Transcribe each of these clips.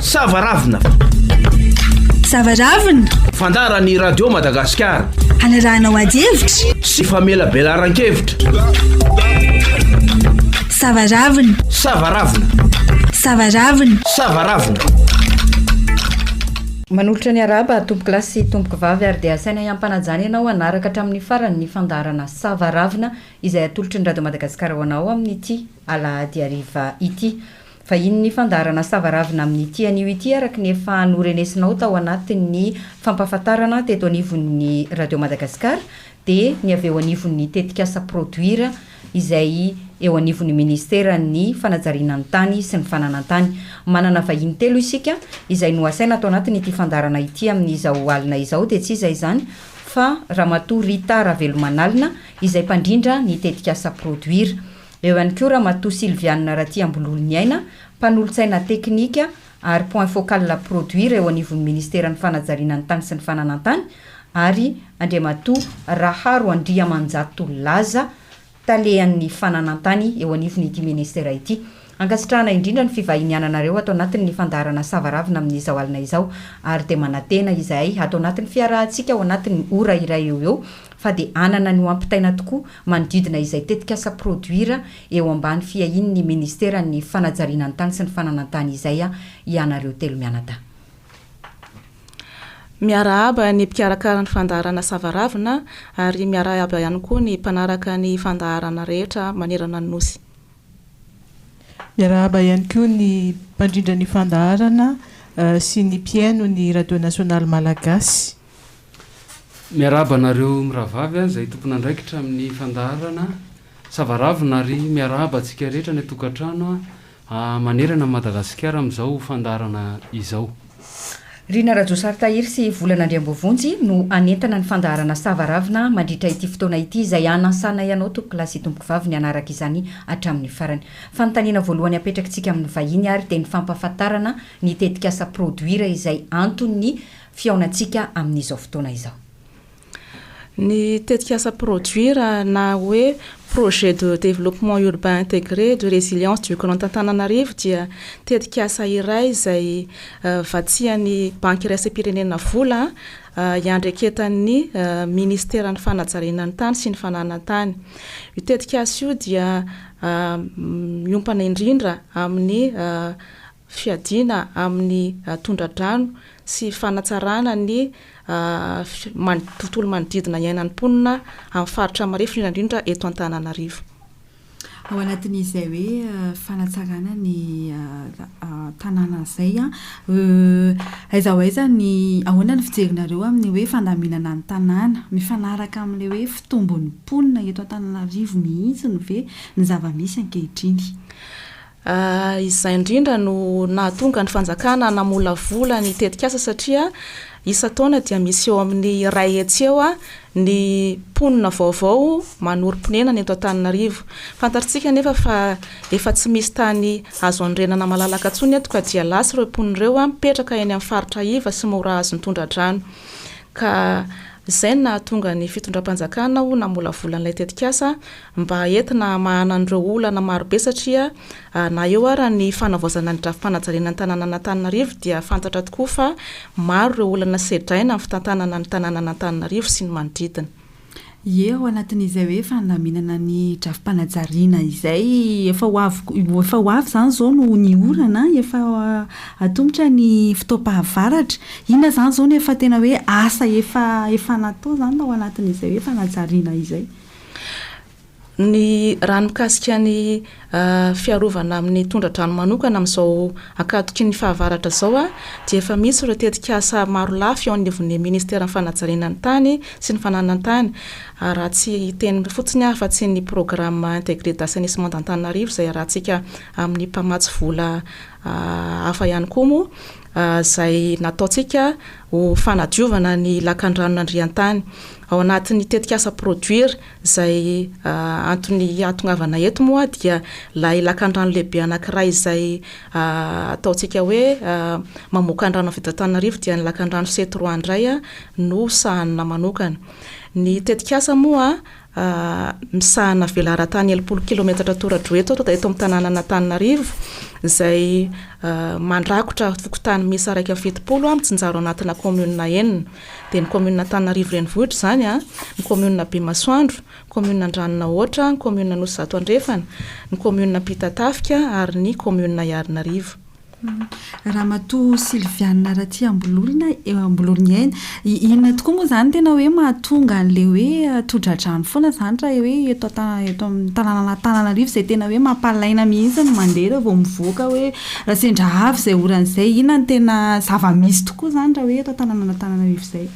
Savaravina. Savaravina. Fandaharan'ny Radio Madagasikara. Hanarahanao ady hevitra. Sy famelabelaran-kevitra. Savaravina. Savaravina. Savaravina. Savaravina. Manolotra ny araba tompoko lahy sy tompoko vavy ary dia asaina hiampanajana ianao hanaraka hatramin'ny farany ny fandaharana Savaravina izay atolotry ny Radio Madagasikara ho anao amin'ity alahady hariva ity. Vahiny ny fandaharana savaravina amin'ity anio ity araka ny efa norenesinao tao anatin'ny fampahafantarana teto anivon'ny Radio Madagasikara dia ny avy eo anivon'ny tetikasa Produire izay eo anivon'ny Ministeran'ny fanajariana ny tany sy ny fananantany. Manana vahiny telo isika izay nohasaina ato anatin'ity fandaharana ity amin'izao alina izao dia tsy iza izany fa Ramatoa Rita Ravelomanalina izay mpandrindra ny tetikasa Produire. Eo ihany koa Ramatoa Sylviane Ratiambololoniaina, mpanolotsaina teknika ary point focal produire eo anivon'ny Ministeran'ny Fanajariana ny Tany sy ny Fananantany ary Andriamatoa Raharo Andriamanjato Laza, Talehan'ny Fananantany eo anivon'ity Ministera ity. Ankasitrahana indrindra ny fivahiniananareo ato anatin'ny fandaharana Savaravina amin'izao alina izao ary dia manantena izahay ato anatin'ny fiarahantsika ao anatin'ny ora iray eo ho eo fa dia hanana ny ho ampitaina tokoa manodidina izay tetikasa produire eo ambany fiahian'ny Ministeran'ny Fanajariana ny Tany sy ny Fananantany izay hianareo telo mianadahy. Miarahaba ny mpikarakara ny fandaharana Savaravina ary miarahaba ihany koa ny mpanaraka ny fandaharana rehetra manerana ny Nosy. Miarahaba ihany koa ny mpandrindra ny fandaharana sy ny mpihaino ny Radio Nasionaly Malagasy. Miarahaba anareo mirahavavy an, izay tompon'andraikitra amin'ny fandaharana Savaravina ary miarahaba antsika rehetra any an-tokantrano an, manerana an'i Madagasikara amin'izao fandaharana izao. Rina Rajosary Tahiry sy Volana Andriambovonjy no hanentana ny fandaharana Savaravina mandritra ity fotoana ity izay hanasanay anao tompokolahy sy tompokovavy ny hanaraka izany hatramin'ny farany. Fanontaniana voalohany apetrakitsika amin'ny vahiny ary dia ny fampahafantarana ny tetikasa Produire izay anton'ny fihaonantsika amin'izao fotoana izao. Ny tetikasa Produire na hoe Projet de Développement Urbain Intégré et de Résilience du Grand Antananarivo dia tetikasa iray izay vatsian'ny Banky Iraisam-pirenena vola iandreketan'ny Minisiteran'ny Fanajariana ny Tany sy ny Fananan-tany. Io tetikasa io dia miompana indrindra amin'ny fiadiana amin'ny tondradrano sy fanatsarana ny tontolo manodidina iainan'ny mponina amin'ny faritra marefo indrindra indrindra eto Antananarivo. Ao anatin'izay hoe fanatsarana ny tanàna izay an, aiza ho aiza ny, ahoana ny fijerinareo amin'ny hoe fandaminana ny tanàna? Mifanaraka amin'ilay hoe fitombon'ny mponina eto Antananarivo mihitsy ve ny zava-misy ankehitriny? Izay indrindra no nahatonga ny fanjakana namolavola ny tetikasa satria isan-taona dia misy eo amin'ny iray hetsy eo ny mponina vaovao manorim-ponenana eto Antananarivo. Fantatritsika anefa fa efa tsy misy tany azo anorenana malalaka intsony eto ka dia lasa ireo mponina ireo mipetraka eny amin'ny faritra iva sy mora azon'ny tondra-drano. Ka izay no nahatonga ny fitondram-panjakana namolavola an'ilay tetikasa. mba entina hamahana an'ireo olana marobe satria na eo ara ny fanavaozana ny drafi-panajariana ny tanànan'Antananarivo dia fantatra tokoa fa maro ireo olana sedraina amin'ny fitantanana ny tanànan'Antananarivo sy ny manodidina. Ie ao anatin'izay hoe fandaminana ny drafi-panajariana izay efa ho avy efa ho avy izany izao no ny orana efa atomotra ny fotoam-pahavaratra, inona izany izao no efa tena hoe asa efa efa natao izany ao anatin'izay hoe fanajariana izay? Ny raha ny mikasika ny fiarovana amin'ny tondra-drano manokana amin'izao ankatoky ny fahavaratra izao dia efa misy ireo tetikasa maro lafy eo anivon'ny ministeran'ny fanajariana ny tany sy ny fananan-tany raha tsy hiteny fotsiny aho fa tsy ny programme intégré d'assainissement d'Antananarivo izay arahantsika amin'ny mpamatsy vola hafa ihany koa moa izay nataontsika ho fanadiovana ny lakandranon'ny andriantany. Ao anatin'ny tetikasa Produire izay antony hahatongavana eto moa dia ilay lakandrano lehibe anankiray izay ataontsika hoe mamoaka ny rano avy eto Antananarivo dia ny lakandrano Setroà indray no sahanina manokana. Ny tetikasa moa misahana velaran-tany enimpolo kilaometatra tora-droa eto ato, dia eto amin'ny tanànan'Antananarivo, izay mandrakotra fokontany miisa iraika amby fitopolo an, mitsinjaro anatina kaominina enina. Dia ny kaominina Antananarivo Renivohitra izany an, ny kaominina Bemasoandro, ny kaominina Andranonahoatra, ny kaominina Anosizato Andrefana, ny kaominina Ampitatafika ary ny kaominina Iharinarivo. Ramatoa Sylviane Ratiambololona, Ambololoniaina, inona tokoa moa izany tena hoe mahatonga an'ilay hoe todradrano foana izany raha hoe eto an-tanàna eto amin'ny tanànan'Antananarivo izay tena hoe mampalaina mihitsy ny mandeha rehefa vao mivoaka hoe raha sendra avy izay orana izay? Inona no tena zava-misy tokoa izany raha hoe eto an-tanànan'Antananarivo izay?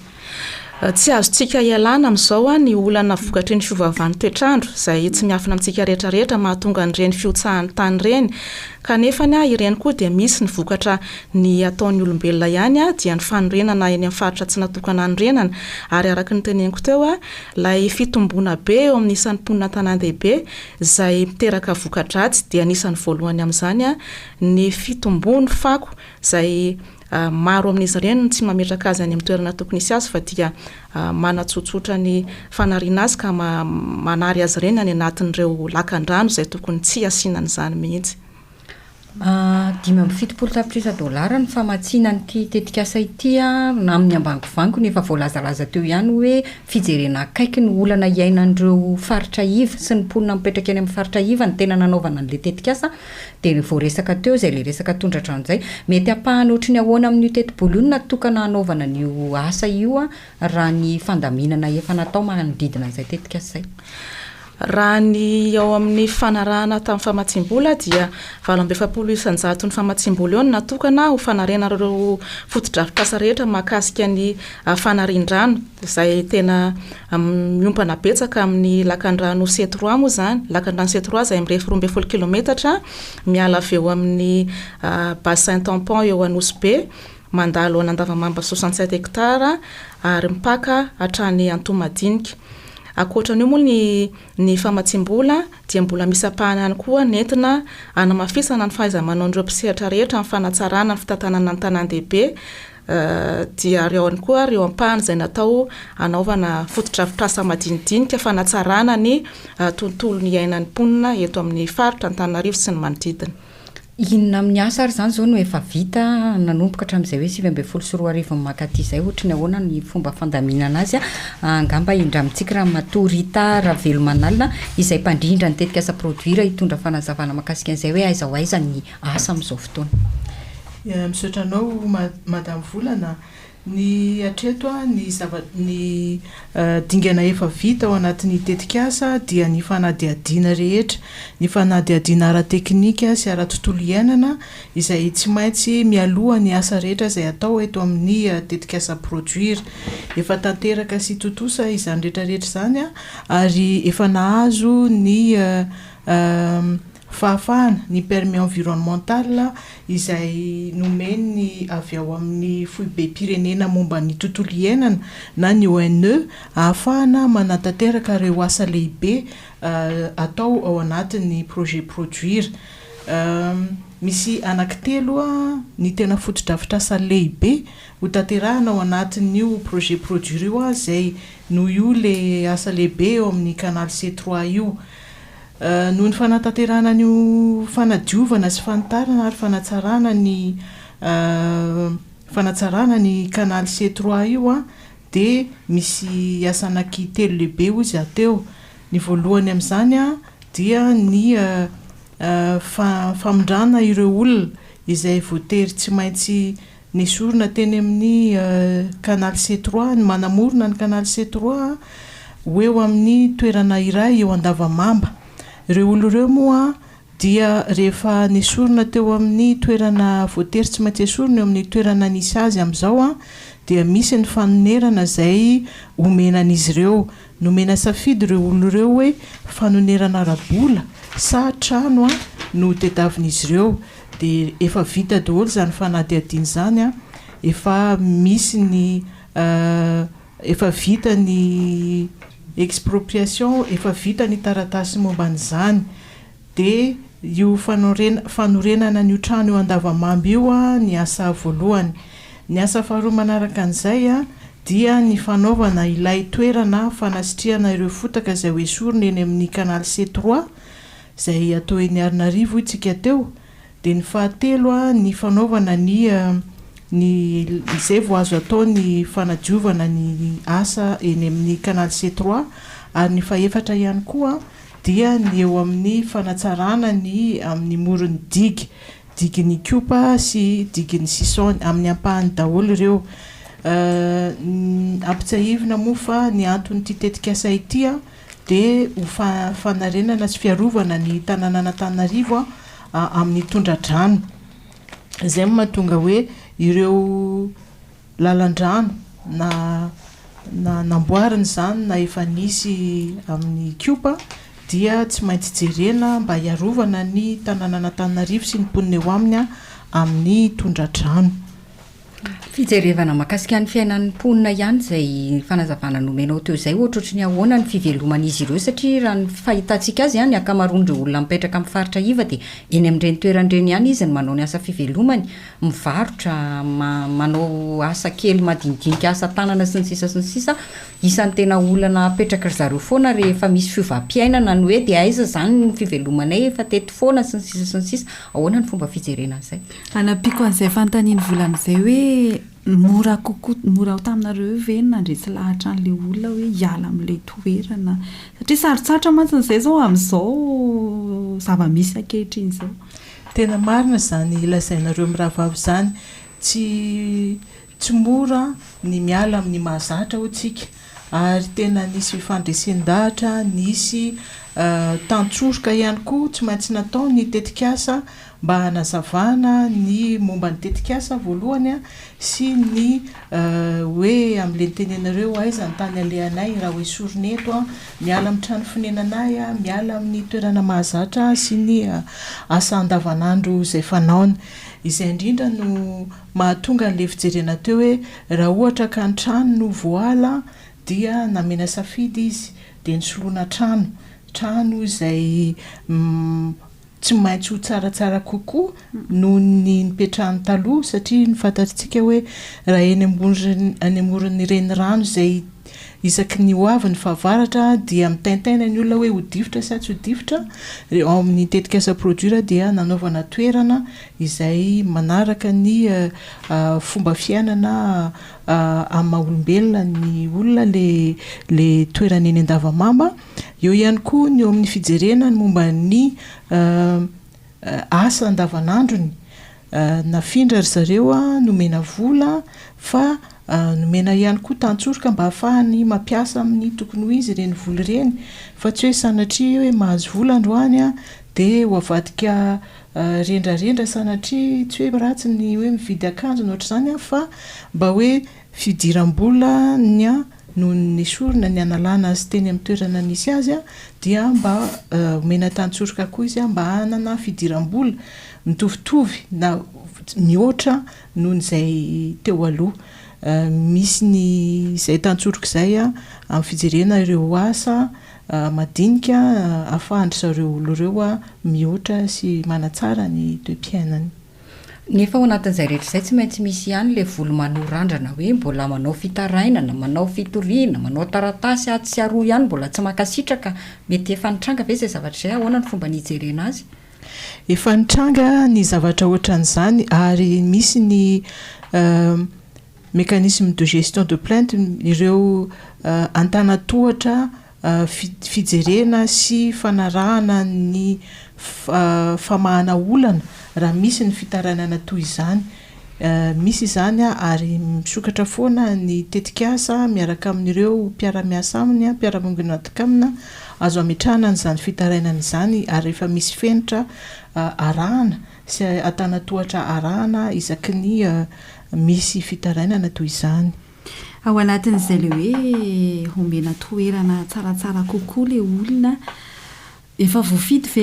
Tsy azontsika ialana amin'izao ny olana vokatry ny fiovaovan'ny toetr'andro izay tsy miafina amintsika rehetra rehetra mahatonga an'ireny fihotsahan'ny tany ireny kanefa ireny koa dia misy ny vokatra ny ataon'ny olombelona ihany dia ny fanorenana eny amin'ny faritra tsy natokana hanorenana ary araka ny teneniko teo ilay fitomboana be eo amin'ny isan'ny mponina an-tanàn-dehibe izay miteraka voka-dratsy dia anisan'ny voalohany amin'izany ny fitomboan'ny fako izay Maro amin'izy ireny no tsy mametraka azy any amin'ny toerana tokony hisy azy fa dia manatsotsotra ny fanariana azy ka manary azy ireny any anatin'ireo lakan-drano izay tokony tsy hasiana an'izany mihitsy. Dimy amby fitopolo tapitrisa dolara ny famatsiana an'ity tetikasa ity amin'ny ambangovango no efa voalazalaza teo ihany hoe fijerena akaiky ny olana iainan'ireo faritra iva sy ny mponina mipetraka eny amin'ny faritra iva no tena nanaovana an'ilay tetikasa Dia re voaresaka teo izay ilay resaka tondratra an'izay, mety hampahana ohatry ny ahoana amin'io teti-bola io no natokana hanaovana an'io asa io raha ny fandaminana efa natao manodidina an'izay tetikasa izay? Raha ny ao amin'ny fanarahana tamin'ny famatsiam-bola dia valo amby efapolo isan-jato ny famatsiam-bola eo no natokana ho fanarenana ireo fotodrafitrasa rehetra mahakasika ny fanarian-drano. izay tena miompana betsaka amin'ny lakandrano Setroà moa izany, lakandrano Setroà izay mirefy roa ambin'ny folo kilaometatra miala avy eo amin'ny bassin tampon eo Anosibe, mandalo an'Andavamamba soixante sept hectares ary mipaka hatrany Antohomadinika. Ankoatra an'io moa ny famatsiam-bola dia mbola misy ampahany ihany koa nentina hanamafisana ny fahaiza-manaon'ireo mpisehatra rehetra amin'ny fanatsarana ny fitantanana ny tanàn-dehibe, dia ary ao ihany koa ireo ampahany izay natao hanaovana fotodrafitrasa madinidinika fanatsarana ny tontolon'ny iainan'ny mponina eto amin'ny faritra Antananarivo sy ny manodidina. Inona amin'ny asa ary izany izao no efa vita nanomboka hatramin'izay hoe sivy ambin'ny folo sy roa arivo mankaty izay? Ohatry ny ahoana ny fomba fandaminana azy? Angamba indramitsiky Ramatoa Rita Ravelomanalina izay mpandrindra ny tetikasa Produire hitondra fanazavana mahakasika an'izay hoe aiza ho aiza ny asa amin'izao fotoana. Misaotra anao Madame Volana. Ny hatreto ny zava ny dingana efa vita ao anatin'ny tetikasa dia ny fanadihadiana rehetra, ny fanadihadiana ara-teknika sy ara-tontolo iainana izay tsy maintsy mialoha ny asa rehetra izay atao eto amin'ny tetikasa Produire. Efa tanteraka sy tontosa izany rehetra rehetra izany ary efa nahazo ny Fahafahana, ny permis environnemental izay nomen'ny avy ao amin'ny Foibem-pirenena momba ny tontolo iainana na ny ONE ahafahana manatanteraka ireo asa lehibe atao ao anatin'ny projet Produire. Misy anankitelo ny tena fotodrafitrasa lehibe hotanterahina ao anatin'io projet Produire io izay noho io ilay asa lehibe eo amin'ny canal C trois io. Noho ny fanatanterahana an'io fanadiovana sy fanitarana ary fanatsarana ny fanatsarana ny canal C trois io dia misy asa anaky telo lehibe hoy izy aho teo. Ny voalohany amin'izany dia ny famindrana ireo olona izay voatery tsy maintsy Nesorina teny amin'ny Canal C trois ny manamorona ny Canal C trois ho eo amin'ny toerana iray eo Andavamamba. Ireo olona ireo moa dia rehefa nesorina teo amin'ny toerana voatery tsy maintsy esorina eo amin'ny toerana nisy azy amin'izao dia misy ny fanonerana izay omena an'izy ireo. Nomena safidy ireo olona ireo hoe fanonerana ara-bola sa trano an no ho tediavin'izy ireo dia efa vita daholo izany fanadihadiana izany an, efa misy ny efa vita ny expropriation, efa vita ny taratasy momba an'izany, Dia io fanorena fanorenana an'io trano io Andavamamba io ny asa voalohany. Ny asa faharoa manaraka an'izay dia ny fanaovana ilay toerana fanasitrihana ireo fotaka izay ho esorina eny amin'ny Canal C trois izay atao eny Arinarivo hoy tsika teo. Dia ny fahatelo ny fanaovana ny ny izay vao azo atao ny fanadiovana ny asa eny amin'ny Canal C trois ary ny fahefatra ihany koa dia ny eo amin'ny fanatsarana ny amin'ny moron'ny digy, digin'ny Ikopa sy digin'ny Sison, amin'ny ampahany daholo ireo. Ampitsiahivina moa fa ny anton'ity tetikasa ity dia ho fanarenana sy fiarovana ny tananan'Antananarivo amin'ny tondra-drano. Izay no mahatonga hoe ireo lalan-drano na na namboarina izany na efa nisy amin'ny Kiopa dia tsy maintsy jerena mba hiarovana ny tanànan'Antananarivo sy ny mponina eo aminy amin'ny tondra-drano. Fijerevana mahakasika ny fiainan'ny mponina ihany izay fanazavana nomenao teo izay ohatrohatry ny ahoana ny fiveloman'izy ireo satria raha ny fahitantsika azy ny ankamaroan'ireo olona mipetraka amin'ny faritra iva dia eny amin'ireny toerana ireny ihany izy no manao ny asa fivelomany mivarotra, manao asa kely madinidinika asa tanana sy ny sisa sy ny sisa, isan'ny tena olana apetraky ry zareo foana rehefa misy fiovam-piainana ny hoe dia aiza izany ny fivelomanay efa teto foana sy ny sisa sy ny sisa, ahoana ny fomba fijerena an'izay? Hanampiako an'izay fanontanian'i Volana izay hoe mora kokoa mora ho taminareo ve ny nandresy lahatra an'ilay olona hoe hiala amin'ilay toerana satria sarotsarotra mantsy izay izao amin'izao zava-misy ankehitriny izao. Tena marina izany lazainareo mirahavavy izany, tsy tsy mora ny miala amin'ny mahazatra hoy tsika ary tena nisy fifandresen-dahatra, nisy tantsoroka ihany koa tsy maintsy natao ny tetikasa mba hanazavana ny momba ny tetikasa voalohany, sy ny hoe amlentenenareo aiza ny tany alehanay raha hoe sorona eto aho, miala amin'ny trano fonenanay aho, miala amin'ny toerana mahazatra ahy sy ny asa andavanandro izay fanaony. Izay indrindra no mahatonga an'ilay fijerena teo hoe raha ohatra ka ny trano no voaala dia namena safidy izy dia ny soloana trano, trano izay tsy maintsy ho tsaratsara kokoa noho ny nipetrahany taloha satria ny fantatsika hoe raha eny ambony any amoron'ny renirano izay isaky ny hoavy ny fahavaratra dia mitaintaina ny olona hoe ho difotra sa tsy ho difotra dia ao amin'ny tetikasa produire dia nanaovana toerana izay manaraka ny eh, ah, fomba fiainana ah, amin'ny maha olombelona ny olona le le toerana eny Andavamamba Eo ihany koa ny eo amin'ny fijerena ny momba ny asa andavanandrony. Nafindra ry zareo, nomena vola fa nomena ihany koa tantsoroka mba hahafahany mampiasa amin'ny tokony ho izy ireny vola ireny fa tsy hoe sanatria hoe mahazo vola androany dia ho avadika rendrarendra sanatria tsy hoe ratsy ny hoe mividy akanjo na ohatr'izany fa mba hoe fidiram-bola ny Nony nesorina ny hanalana azy teny amin'ny toerana nisy azy dia mba omena tantsoroka koa izy mba hanana fidiram-bola mitovitovy na mihoatra noho izay teo aloha. Misy ny izay tantsoroka izay amin'ny fijerena ireo asa madinika ahafahan-dry zareo olona ireo mihoatra sy manatsara ny toe-piainany. Nefa ao anatin'izay rehetra izay tsy maintsy misy ihany ilay volo maloa randrana hoe mbola manao fitarainana, manao fitoriana, manao taratasy atsy sy aroa ihany mbola tsy mankasitraka, mety efa nitranga ve izay zavatra izay? Ahoana no fomba nijerena azy? Efa nitranga ny zavatra ohatran'izany ary misy ny mécanisme de gestion de plainte ireo antanatohatra fijerena sy fanarahana ny famahana olana raha misy ny fitarainana toy izany. Misy izany ary misokatra foana ny tetikasa miaraka amin'ireo mpiara-miasa aminy, mpiara-miombona aminy, azo ametrahana an'izany fitarainana izany ary rehefa misy fenitra arahana sy antanantohatra arahana isaky ny misy fitarainana toy izany. Ao anatin'izay ilay hoe omena toerana tsaratsara kokoa ilay olona, efa voafidy ve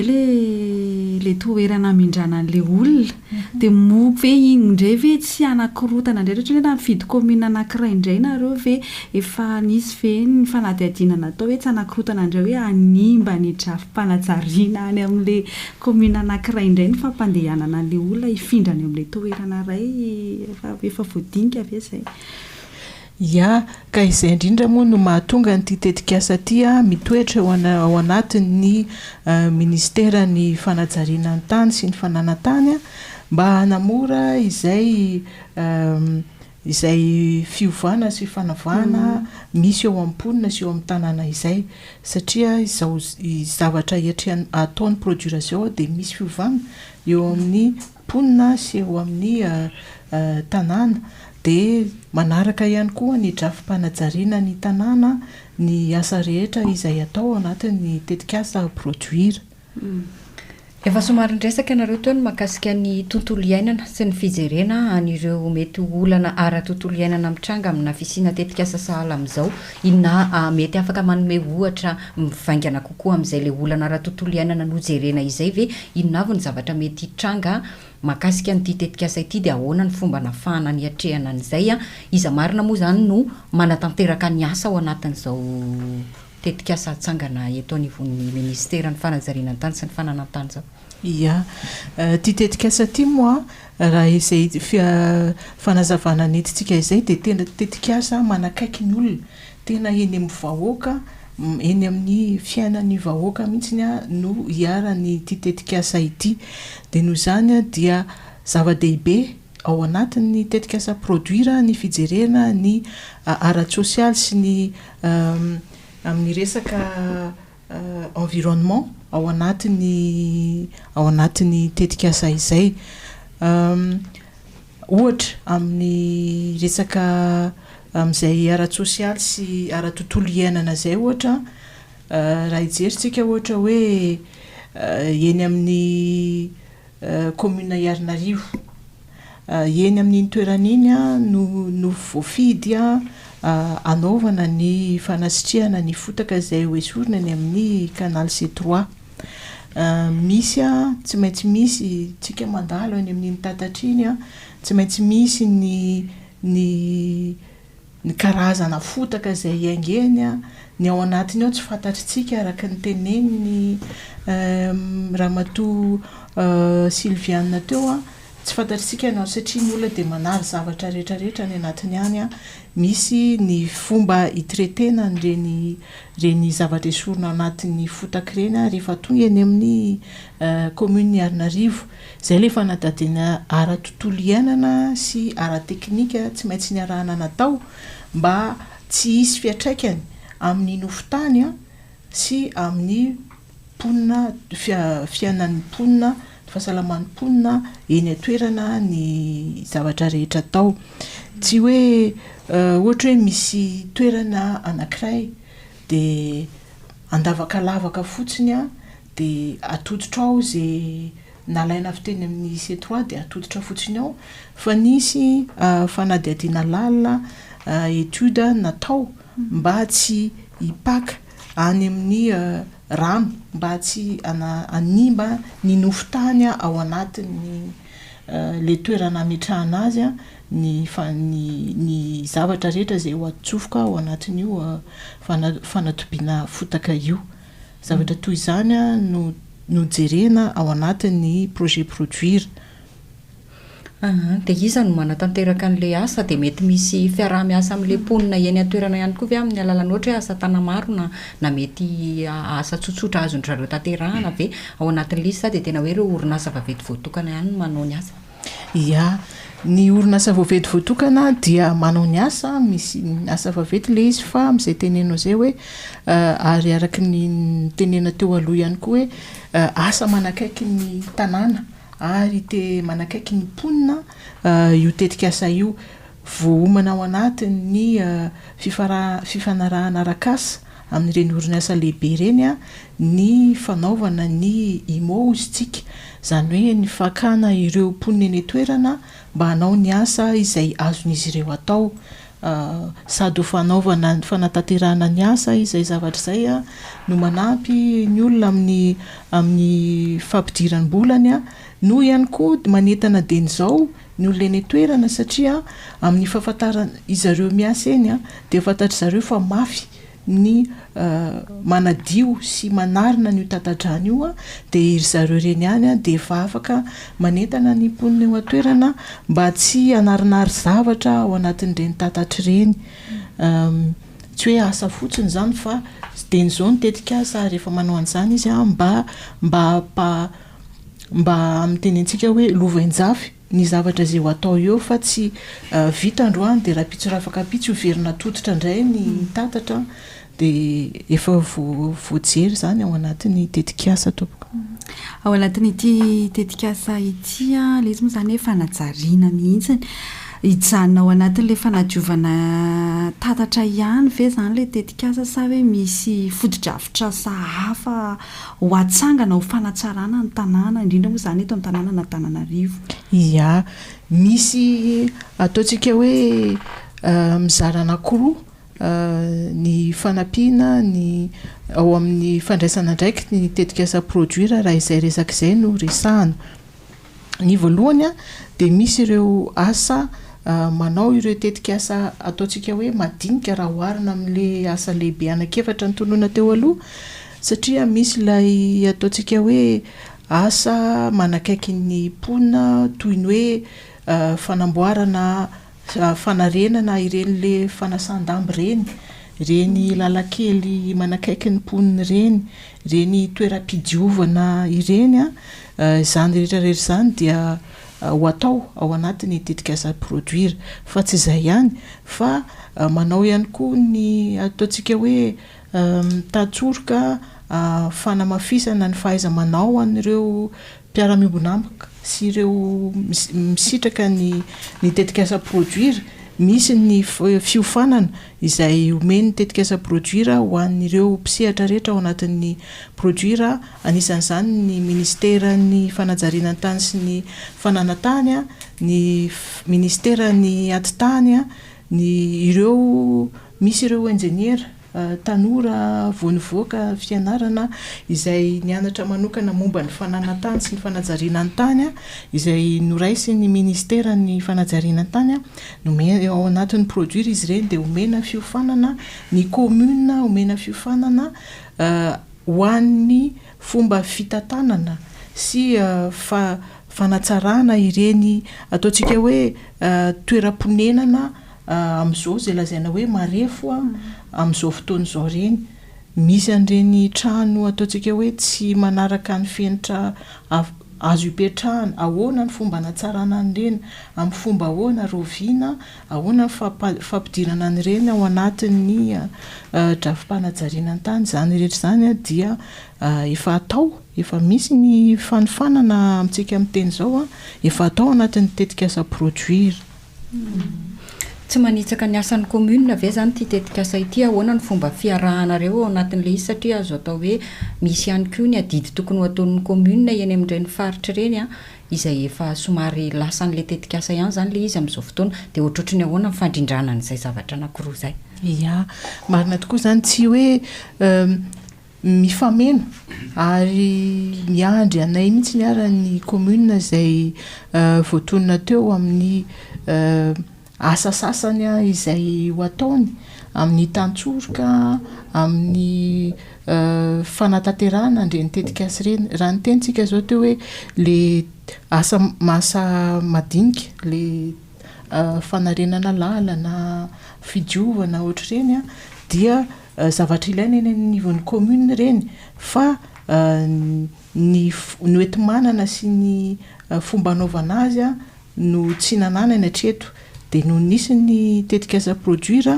ilay toerana hamindrana an'ilay olona? Dia moa ve iny indray ve tsy hanakorotana indray? Ohatra hoe raha mifidy kaominina anankiray indray ianareo ve efa nisy ve ny fanadihadiana natao hoe tsy hanakorotana indray hoe hanimba ny drafi-panajariana any amin'ilay. Kaominina anankiray indray ny fampandehanana an'ilay olona hifindra any amin'ilay toerana iray raha efa voadinika ve izay? Ia, ka izay indrindra moa no mahatonga an'ity tetikasa ity mitoetra eo ao anatin'ny Minisiteran'ny fanajariana ny tany sy ny fananantany mba hanamora izay izay fiovana sy fanavahana misy eo amin'ny mponina sy eo amin'ny tanàna izay satria izao zavatra hiatrehany ataony produire izao dia misy fiovana eo amin'ny mponina sy eo amin'ny tanàna dia manaraka ihany koa ny drafi-panajariana ny tanàna ny asa rehetra izay atao ao anatin'ny tetikasa produire. Efa somary niresaka ianareo teo ny mahakasika ny tontolo iainana sy ny fijerena an'ireo mety ho olana ara-tontolo iainana mitranga amina fisiana tetikasa sahala amin'izao. Inona mety afaka manome ohatra mivaingana kokoa amin'izay ilay olana ara-tontolo iainana nojerena izay ve? Inona avy ny zavatra mety hitranga mahakasika an'ity tetikasa ity dia ahoana ny fomba nahafahana niatrehana an'izay? Iza marina moa izany no manatanteraka ny asa ao anatin'izao Tetikasa hatsangana eto anivon'ny Ministeran'ny Fanajariana an-tany sy ny Fananan-tany izao. Ia. Ity tetikasa ity moa, raha izay fanazavana nentintsika izay dia tena tetikasa manakaiky ny olona, tena eny amin'ny vahoaka, eny amin'ny fiainan'ny vahoaka mihitsy no iharan'ity tetikasa ity. Dia noho izany dia zava-dehibe Ao anatin'ny tetikasa Produire ny fijerena ny ara-tsosialy sy ny amin'ny resaka environnement ao anatin'ny ao anatin'ny tetikasa izay. Ohatra, amin'ny resaka amin'izay ara-tsosialy sy ara-tontolo iainana izay ohatra raha hijerintsika ohatra hoe eny amin'ny Kaominina Iharinarivo. Eny amin'iny toerana iny no no voafidy hanaovana ny fanasitrihana ny fotaka izay ho esorina eny amin'ny Canal C trois. Misy, tsy maintsy misy, isika mandalo eny amin'iny tatatra iny, tsy maintsy misy ny ny Ny karazana fotaka izay iaingeny, ny ao anatiny ao tsy fantatritsika araka ny tenenin'i Ramatoa Sylviane teo, tsy fantatritsika ny ao satria ny olona dia manary zavatra rehetra rehetra any anatiny any, misy ny fomba hi-traiter-na an'ireny ireny zavatra esorina ao anatin'ny fotaka ireny rehefa tonga eny amin'ny Commune Ianarivony. Izay ilay fanadihadiana ara-tontolo iainana sy ara-teknika tsy maintsy niarahana natao mba tsy hisy fiantraikany amin'ny nofon-tany sy amin'ny mponina, fiainan'ny mponina, ny fahasalaman'ny mponina eny an-toerana ny zavatra rehetra atao. Tsy hoe ohatra hoe misy toerana anankiray dia andavakalavaka fotsiny, Dia atoditra ao izay nalaina avy teny amin'ny C trois dia atoditra fotsiny ao fa nisy fanadihadiana lalina étude natao mba tsy hipaka any amin'ny rano mba tsy hanimba ny nofo tany ao anatin'ny ilay toerana hametrahana azy ny ny zavatra rehetra izay ho atsofoka ao anatin'io fanatobiana fotaka io. Zavatra toy izany no no jerena ao anatin'ny projet produire. Aha, dia iza no manatanteraka an'ilay asa? Dia mety misy fiaraha-miasa amin'ilay mponina eny an-toerana ihany koa ve amin'ny alalan'ny ohatra hoe asa tana-maro na na mety asa tsotsotra azon-dry zareo tanterahana ve? Ao anatin'ilay izy sa dia tena hoe ireo orinasa vaventy voatokana ihany no manao ny asa? Ia. Ny orinasa voavety voatokana dia manao ny asa, misy asa vaventy ilay izy fa amin'izay tenenao izay hoe ary araka ny nitenenana teo aloha ihany koa hoe asa manakaiky ny tanàna ary te manakaiky ny mponina io tetikasa io. Voaomana ao anatin'ny fifanarahana arak'asa. amin'ireny orinasa lehibe ireny ny fanaovana ny IMO hozy ntsika, izany hoe ny fakana ireo mponina eny an-toerana mba hanao ny asa izay azon'izy ireo atao, sady ho fanaovana ny fanatanterahana ny asa izay zavatra izay no manampy ny olona amin'ny amin'ny fampidiram-bolany no ihany koa manentana dieny izao ny olona eny an-toerana satria amin'ny fahafantaran izareo miasa eny dia fantatry zareo fa mafy ny manadio sy manarina an'io tata-drano io dia iry zareo ireny ihany dia efa afaka manentana ny mponina eo an-toerana mba tsy hanarinary zavatra ao anatin'ireny tatatra ireny tsy hoe asa fotsiny izany fa dieny izao ny tetikasa rehefa manao an'izany izy mba mba Mba miteny antsika hoe lovainjafy ny zavatra izay ho atao eo fa tsy vita androany dia rahampitso rafakampitso io verina tototra indray ny tatatra dia efa voajery izany ao anatin'ny tetikasa tompoko. Ao anatin'ity tetikasa ity ilay izy moa izany hoe fanajariana mihitsy. Hijanona ao anatin'ilay fanadiovana tatatra ihany ve izany ilay tetikasa sa hoe misy fotodrafitrasa hafa? Ho hatsangana ho fanatsarana ny tanàna, indrindra moa izany eto an-tanànan'Antananarivo. Ia. Misy ataontsika hoe mizara anankiroa ny fanampiana ny ao amin'ny fandraisana andraikitry ny tetikasa Produire raha izay resaka izay no resahana. Ny voalohany dia misy ireo asa manao ireo tetikasa ataontsika hoe madinika raha oharina amin'ilay asa lehibe anankiefatra notonona teo aloha satria misy ilay ataontsika hoe asa manakaiky ny mponina toy ny hoe fanamboarana fanarenana ireny le fanasandamba ireny, ireny lalan-kely manakaiky ny mponina ireny, ireny toeram-pidiovana ireny an, izany rehetra rehetra izany dia ho atao ao anatin'ny tetikasa Produir. Fa tsy izay ihany fa manao ihany koa ny ataontsika hoe mitady tsoroka fanamafisana ny fahaiza-manao an'ireo mpiara-miombon'amboka sy ireo misitraka ny tetikasa Produire, misy ny fiofanana izay omen'ny tetikasa Produire ho an'ireo mpisehatra rehetra ao anatin'ny Produire, anisan'izany ny Minisiteran'ny Fanajariana ny Tany sy ny Fananantany, ny Minisiteran'ny Atitany, ny ireo misy ireo Injeniera. tanora vao nivoaka fianarana izay nianatra manokana momba ny fananan-tany sy ny fanajariana ny tany izay noraisin'ny Ministeran'ny Fanajariana ny tany, nomena, ao anatin'ny produire izy ireny dia omena fiofanana ny commune, omena fiofanana ho an'ny fomba fitantanana sy fanatsarana ireny ataontsika hoe toeram-ponenana. Amin'izao izay lazaina hoe marefo amin'izao fotoana izao ireny, misy an'ireny trano ataontsika hoe tsy manaraka ny fenitra azo ipetrahana. Ahoana ny fomba hanatsarana an'ireny? Amin'ny fomba ahoana? Rahoviana? Ahoana ny fampidirana an'ireny ao anatin'ny drafi-panajariana ny tany? Izany rehetra izany dia efa atao, efa misy ny fanofanana amintsika miteny izao, efa atao ao anatin'ny tetikasa Produire. Tsy manitsaka ny asan'ny commune ve izany ity tetikasa ity? Ahoana ny fomba fiarahanareo ao anatin'ilay izy satria azo atao hoe misy ihany koa ny adidy tokony ho ataon'ny commune eny amin'ireny faritra ireny izay efa somary lasan'ilay tetikasa ihany izany ilay izy amin'izao fotoana dia ohatrohatry ny ahoana ny fandrindrana an'izay zavatra anankiroa izay? Ia, marina tokoa izany, tsy hoe mifameno ary miandry anay mihitsy ary ny commune izay voatonona teo amin'ny asa sasany izay ho ataony amin'ny tantsoroka amin'ny fanatanterahana ireny tetikasa ireny raha ny tenintsika izao teo hoe ilay asa asa madinika ilay fanarenana lalana fidiovana ohatr'ireny dia Zavatra ilaina eny anivon'ny commune ireny fa ny hoenti-manana sy ny fomba hanaovana azy no tsy nananany hatreto. Dia nony nisy ny tetikasa produire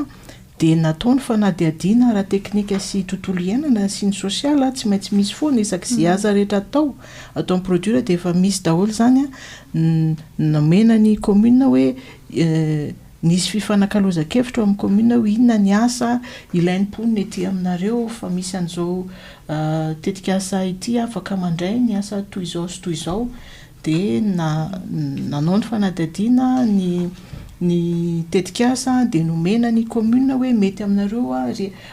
dia natao ny fanadihadiana ara-teknika sy tontolo iainana sy ny social, tsy maintsy misy foana isaky izay asa rehetra atao ato amin'ny produire dia efa misy daholo izany nomena ny commune hoe Nisy fifanakalozan-kevitra ao amin'ny kaominina hoe inona ny asa ilain'ny mponina ety aminareo fa misy an'izao tetikasa ity afaka mandray ny asa toy izao sy toy izao dia nanao ny fanadihadiana ny ny tetikasa dia nomena ny kaominina hoe mety aminareo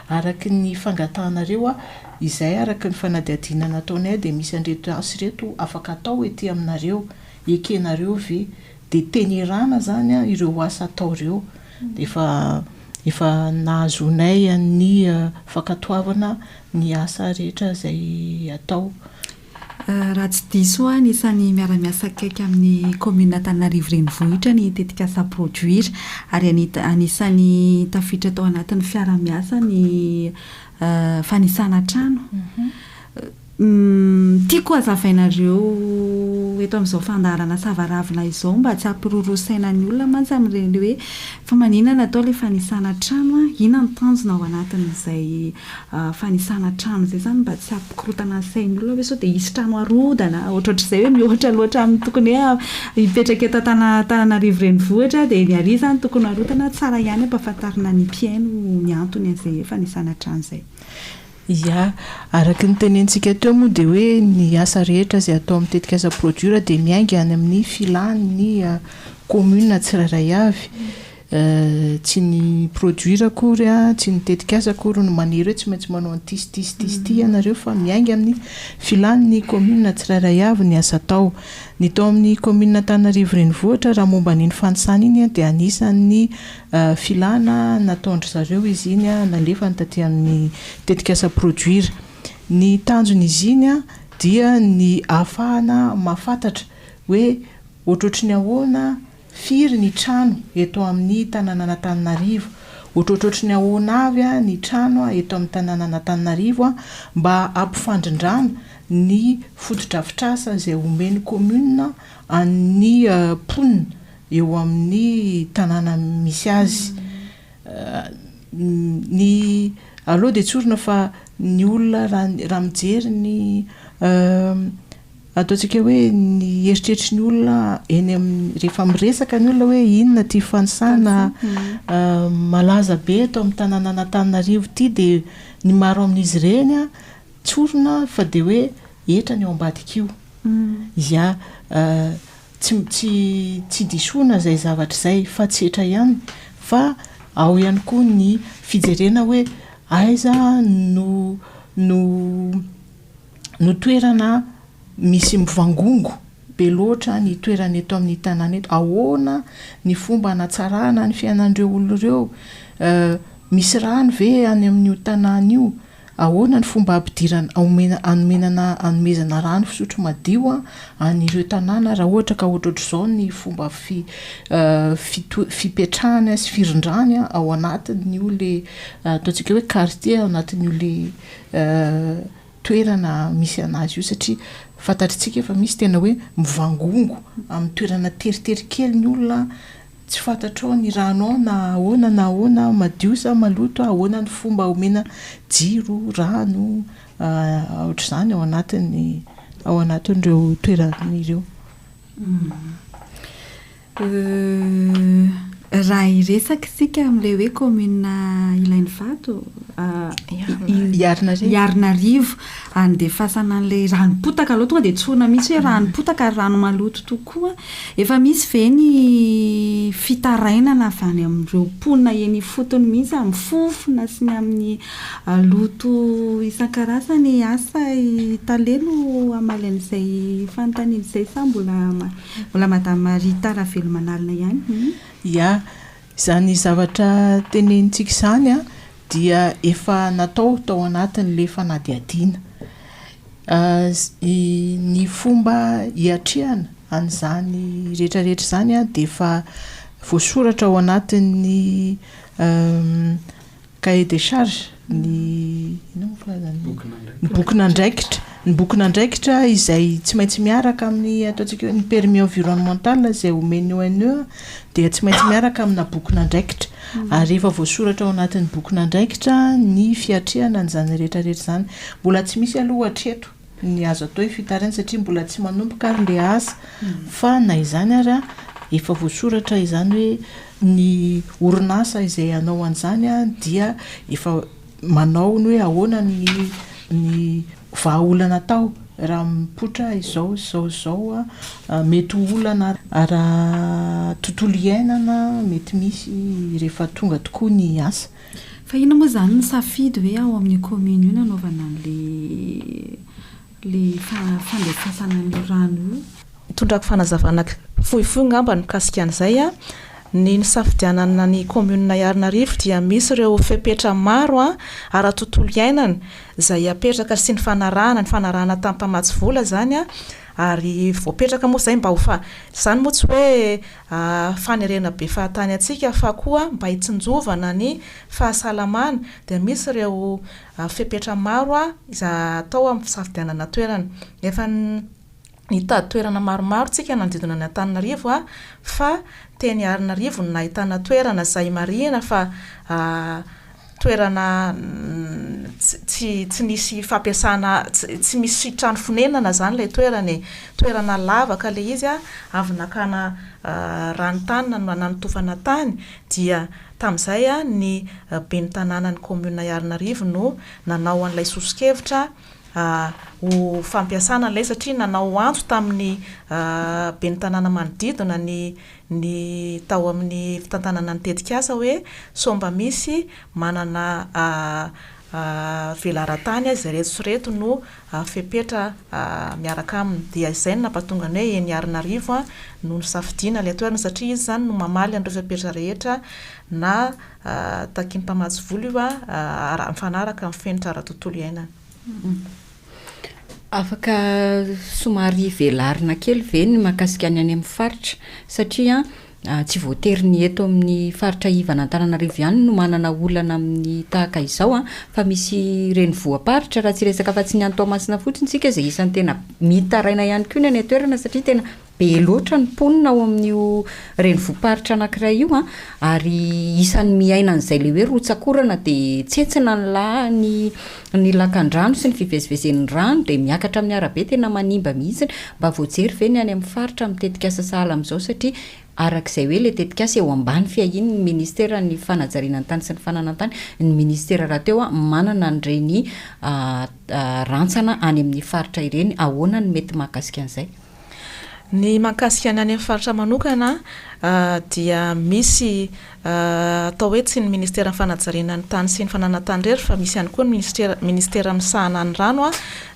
araka ny fangatahanareo izay araka ny fanadihadiana nataonay dia misy an'ireto asa ireto afaka atao ety aminareo, ekenareo ve Dia tenerana zany a ireo asa atao ireo dia efa efa nahazoanay ny fankatoavana ny asa rehetra izay atao. Raha tsy diso aho anisan'ny miara-miasa akaiky amin'ny kaominina Antananarivo Renivohitra ny tetikasa Produire ary anita- anisan'ny tafiditra tao anatin'ny fiara-miasa ny fanisana trano. Uhm tiako hazavainareo eto amin'izao fandaharana sava ravina izao mba tsy hampiroro saina ny olona mantsy amin'ireny hoe fa maninona no atao ilay fanisana trano an, inona no tanjona ao anatin'izay fanisana trano izay izany mba tsy hampikorontana ny sain'ny olona hoe sao dia hisy trano harodana ohatrohatr'izay hoe mihoatra loatra amin'ny tokony hoe hipetraka eto Antananarivo renivohitra dia ny ary izany tokony harodana, tsara ihany ampahafantarina ny mpihaino ny antony an'izay fanisana trano izay. Ia. Araka ny tenentsika teo moa dia hoe ny asa rehetra izay atao amin'ny tetikasa Produir dia miainga any amin'ny filàn'ny kaominina tsirairay avy. Tsy ny Produir akory, tsy ny tetikasa akory no manery hoe tsy maintsy manao an'ity sy ity sy ity sy ity ianareo fa miainga amin'ny filàn'ny kaominina tsirairay avy ny asa atao. Ny tao amin'ny kaominina Antananarivo Renivohitra raha momba an'iny fanisana iny dia anisan'ny Filana nataon-dry zareo izy iny, nalefany taty amin'ny tetikasa Produire. Ny tanjon'izy iny dia ny ahafahana mahafantatra hoe ohatrohatry ny ahoana, firy ny trano eto amin'ny tanànan'Antananarivo, ohatrohatrohatry ny ahoana avy ny trano eto amin'ny tanànan'Antananarivo mba hampifandrindrana ny fotodrafitrasa izay omen'ny commune an'ny mponina eo amin'ny tanàna misy azy. Ny aleo dia tsorina fa ny olona raha raha mijery ny ataontsika hoe ny eritreritry ny olona eny amin'ny rehefa miresaka ny olona hoe inona ity fanisana malaza be eto amin'ny tanànan'Antananarivo ity dia ny maro amin'izy ireny an tsorina fa dia hoe hetra ny ao ambadik'io. Ia Tsy tsy tsy disoana izay zavatra izay fa tsy etra ihany fa ao ihany koa ny fijerena hoe aiza no no no toerana misy mivangongo be loatra ny toerana eto amin'ny tanàna eto, ahoana ny fomba hanatsarana ny fiainan'ireo olona ireo, misy rano ve any amin'io tanàna io? Ahoana ny fomba hampidirana haomena hanomena na hanomezana rano fisotro madio an ireo tanàna raha ohatra ka ohatrohatr'izao ny fomba fi fito fipetrahany sy firindrany ao anatin'io le ataontsika hoe quartier ao anatin'io le toerana misy anazy io satria fantatritsika efa misy tena hoe mivangongo amin'ny toerana teritery kely ny olona Tsy fantatrao ny rano ao na ahoana na ahoana, madio sa maloto, ahoana ny fomba omena jiro, rano, ohatr'izany ao anatin'ny ao anatin'ireo toerana ireo. Raha hiresaka isika amin'ilay hoe kaominina Ilanivato, Iharinarivo. handefasana an'ilay ranom-potaka aloha, tonga dia tsorina mihitsy hoe ranom-potaka ary rano maloto tokoa. Efa misy ve ny fitarainana avy any amin'ireo mponina eny ifotony mihitsy amin'ny fofona sy ny amin'ny loto isan-karazany? Asa i Tale no hamaly an'izay fanontaniana izay sa mbola Madame Rita Ravelomanalina ihany? Ia. Izany zavatra tenenintsika izany dia efa natao tao anatin'ilay fanadihadiana. Ny fomba hiatrehana an'izany rehetrarehetra izany dia efa voasoratra ao anatin'ny Cahier des charges, ny inona moa filazana io? Ny bokin'andraikitra. Ny bokin'andraikitra izay tsy maintsy miaraka amin'ny ataontsika hoe ny permis environnemental izay omen'ny ONE dia tsy maintsy miaraka amina bokin'andraikitra. Hmm. Ary efa voasoratra ao anatin'ny bokin'andraikitra ny fiatrehana an'izany rehetrarehetra izany. Mbola tsy misy aloha hatreto. ny azo atao io fitarihana io satria mbola tsy manomboka ary le asa fa na izany ary a efa voasoratra izany hoe ny orinasa izay hanao an'izany a dia efa manao ny hoe ahoana ny ny vahaolana atao raha mipoitra izao sy izao sy izao a mety ho olana ara tontolo iainana mety misy rehefa tonga tokoa ny asa Fa inona moa izany ny safidy hoe ao amin'io kaominina io no anaovana an'ilay fandefasana an'io rano io? Tondrako fanazavana fohifohy angamba ny mikasika an'izay. Ny nisafidianana ny kaominina Iharinarivo dia misy ireo fepetra maro ara-tontolo iainana izay apetraka sy nifanarahana, nifanarahana tamin'ny mpamatsy vola izany ary voapetraka moa izay mba ho fa, izany moa tsy hoe. Aa fanerena be fahatany antsika fa koa mba hitsinjovana ny fahasalamana dia misy ireo fepetra maro izay atao amin'ny fisafidianana toerana. Efa nitady toerana maromaro tsika nanodidina ny Antananarivo fa teny Arinarivo no nahitana toerana izay marihina fa toerana tsy tsy nisy fampiasana tsy misy trano fonenana zany ilay toerana e, toerana lavaka ilay izy a, avy nakana rano tany na nanotofana tany dia tamin'izay a ny ben'ny tanànan'ny kaominina Iharinarivo no nanao an'ilay soso-kevitra ho fampiasana ilay satria nanao antso tamin'ny ben'ny tanàna manodidina ny ny tao amin'ny fitantanana ny tetikasa hoe sao mba misy manana velaran-tany azy ireto sy ireto no fepetra miaraka aminy. Dia izay no nampatonga ny hoe eny Iharinarivo no nisafidiana ilay toerana satria izy izany no mamaly an'ireo fepetra rehetra na takian'ny mpamatsy vola io mifanaraka amin'ny fenitra ara-tontolo iainana. Afaka somary velarina kely ve ny mahakasika ny any amin'ny faritra? Satria tsy voatery ny eto amin'ny faritra ivan'Antananarivo ihany no manana olana amin'ny tahaka izao an, fa misy renivohi-paritra raha tsy resaka afa-tsy ny any Toamasina fotsiny isika izay isan'ny tena mitaraina ihany koa ny any an-toerana satria tena Be loatra ny mponina ao amin'io renivohi-paritra anankiray io ary isan'ny miaina an'izay ilay hoe rotsak'orana dia tsentsina ny laha ny ny lakandrano sy ny fivezivezen'ny rano dia miakatra amin'ny arabe tena manimba mihitsy. Mba voajery ve ny any amin'ny faritra amin'ny tetikasa sahala amin'izao satria araka izay hoe ilay tetikasa eo ambany fiahian'ny ministeran'ny fanajariana ny tany sy ny fananantany ny ministera rahateo manana an'ireny rantsana any amin'ny faritra ireny. Ahoana no mety mahakasika an'izay? Ny mahakasika ny any amin'ny faritra manokana dia misy atao hoe tsy ny ministeran'ny fanajariana ny tany sy ny fananantany irery fa misy ihany koa ny minisitera ministera misahana ny rano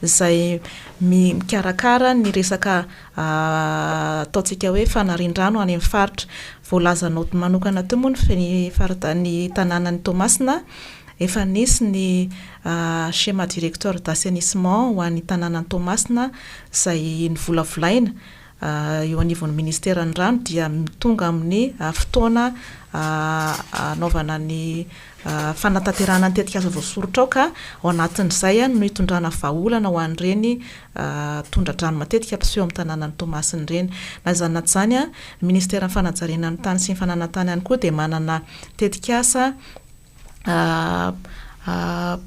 izay mikarakara ny resaka ataontsika hoe fanarian-drano any amin'ny faritra. Voalazanao manokana teo moa ny faritany tanànan'i Toamasina Efa nisy ny Schéma directeur d'assainissement ho an'ny tanànan'i Toamasina izay novolavolaina eo anivon'ny Ministeran'ny rano dia tonga amin'ny fotoana hanaovana ny fanatanterahana ny tetikasa voasoritra ao ka ao anatin'izay no hitondrana vahaolana ho an'ireny tondra-drano matetika mpiseho amin'ny tanànan'i Toamasina ireny. Na izany na izany, ny Ministeran'ny fanajariana ny tany sy ny fananantany ihany koa dia manana tetikasa